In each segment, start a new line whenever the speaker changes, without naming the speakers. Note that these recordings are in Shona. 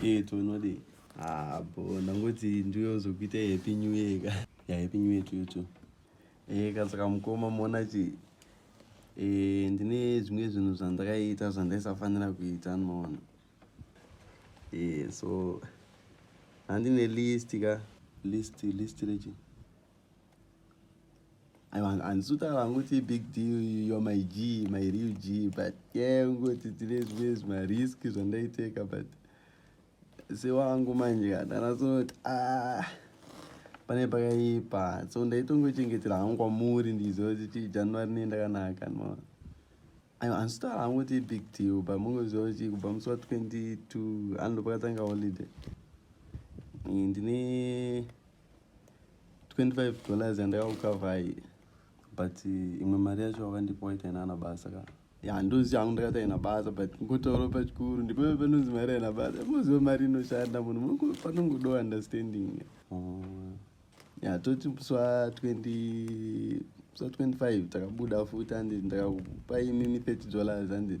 Hey, tonodii Ah, bo ndangoti ndiyozokuita happy new year ka ya happy new year tuyo tu e ka saka mukoma moona chi e ndine zvimwe zvinhu zvandakaita zvandaisafanira kuita ndinoona e so handine list ka list list rechi ansuta vanguti big deal yo my g my real g but yeah ungoti tine zvimwe zvimarisk zvandaiteka but sewangu manje kandanasoti ah pane pakaipa so ndaitongochengetera hangu kwamuri ndiziva kuti january nei ndakanaka no aiwa handisitaura hangu kuti ibig deal but mungoziva kuti kubva musi wa 22 anondo pakatanga holiday ndine 25 dollars yandayaukavai but eh, imwe mari yacho wakandipa waita inana basa ka ya ndozi yangu ndakati aina basa but ngotaura pachikuru ndipo panonzi mari aina basa moziva mari inoshanda munhu panongodo understanding oh. ya toti sa 20 sa 25 takabuda futi andi ndakakupa imimi 30 dollars andi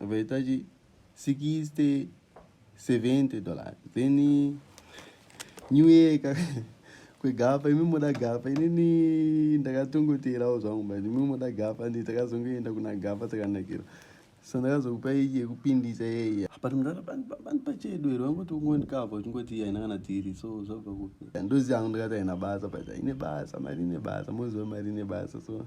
vaita chi 60 70 dollars then new year ka kwegapa imi moda gapa inini ndakatongoteerawo zvangu but imi moda gapa ndi takazongoenda kuna gapa takanakira so ndakazokupa iyi yekupindisa yeiya but mudhara bandipa chedu here vangoti ungondikava uchingoti haina kana tiri so zvabva kupi ndozi yangu ndakati haina basa but haine basa mari ine basa moziva mari ine basa so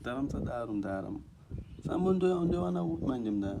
mdara musadaro mdara sambo ndowana kupi manje mdara